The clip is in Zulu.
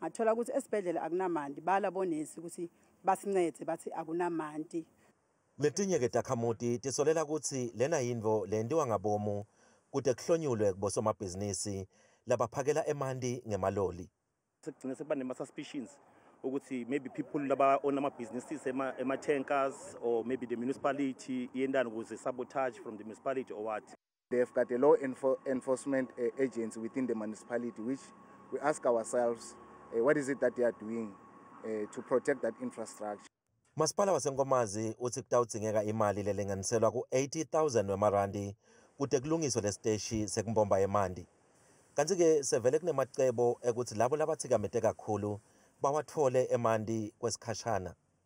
ngathola ukuthi esibhedlela akunamanti bala bonesi ukuthi basincede bathi akunamanti letinye-ke takhamuti tisolela ukuthi lena yinto lentiwa ngabomu kude kuhlonyulwe kubosomabhizinisi labaphakela emanti ngemaloli sekugcine sekuba nema-suspicions ukuthi maybe people laba-own ama-businesses ema-tankers or maybe the municipality iyentani ukuze sabotage from the municipality or what They've got a law enfor enforcement uh, agency within the municipality, which we ask ourselves, uh, what is it that they are doing uh, to protect that infrastructure? Masipala waseNkomazi uthi kutawudzingeka imali lelinganiselwa ku-80,000 wemarandi kude kulungiswe lesiteshi sekumbomba yemanti. Kanti-ke sevele kunemacebo ekuthi labo labathikamete kakhulu bawathole emanti kwesikhashana.